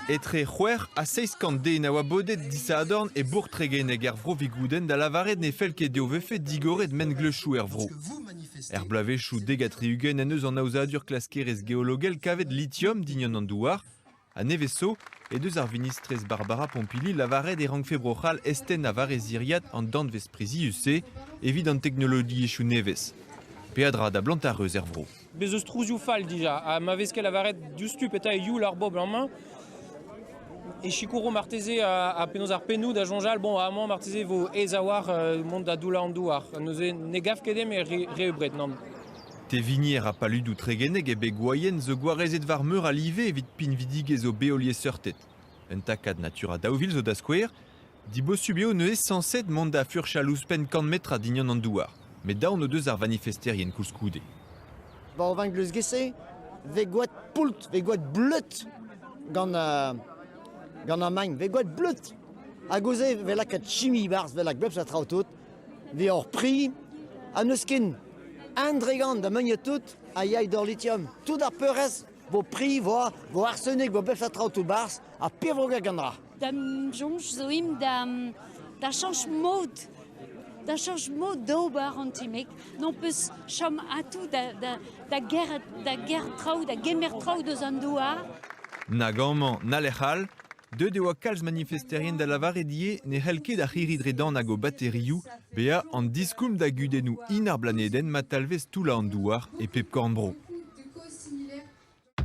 Etre c'hwec'h ha seizh kant den a oa bodet disadorn e Bourtregenneg er vro Vigoudenn da lavaret ne fell ket dezho vefe digoret mengleuzioù er vro. Er bloavezhioù dek ha tri-ugent en deus an aozadur klaskerezh geologel kavet litium dign an douar. A nevez zo he deus ar vinistrez Barbara Pompili lavaret e rankfe Bro-C'hall eztennañ war e ziriad an danvez prizius-se evit an teknologiezhioù nevez. Peadra da blantañ reuz er vro. Bez' eus trouzioù fall dija, ha ma vez ket lavaret diouzhtu petra eo youl ar bobl amañ, e sikouro marteze ha penaos ar pennoù da soñjal, bon, amañ marteze e vo aes a-walc'h mont da doullañ an douar. Neuze ne gav ket eo re, re ebret, nann. Tevinier ha paludoù Tregeneg e beg Gwaien zo gwarezet war meur a live evit pinvidigezh o beolieseurted. Un takad Natura daou vil zo da skouer. Dibosub eo neuze sañset mont da furchal ouzhpenn kant metr a dignon an douar. Met daon o deus ar vanifesterien koulskoude. War va gleuzge-se vez gwad poult, vez gwad bleud gant, uh, gant an magn, vez gwad bleud. Hag ouzh vel lakaat chimi barzh, vel a glebch a traoù tout. Deoc'h pri ha n'eus ken. Un dregant da meuniet tout a yay d'hor litium. Tout ar peurrest vo pri, vo, vo arsenik, vo befet traoù tout barzh ha pirvogañ gandra. Da soñj zo imp da, da chañch mod da chanch mod d'ober an ti-mek. N'hon peus chom atou da, da, da, ger, da ger traoù, da gemer traoù deus an douar. Nag amañ na lec'h all. Deuet e oa kalz manifesterien da lavaret ivez ne c'hell ket ar c'hirri-dredan hag o baterioù bezañ an diskoulm da gudennoù hin ar blanedenn ma talvez toullañ an douar e pep korn-bro.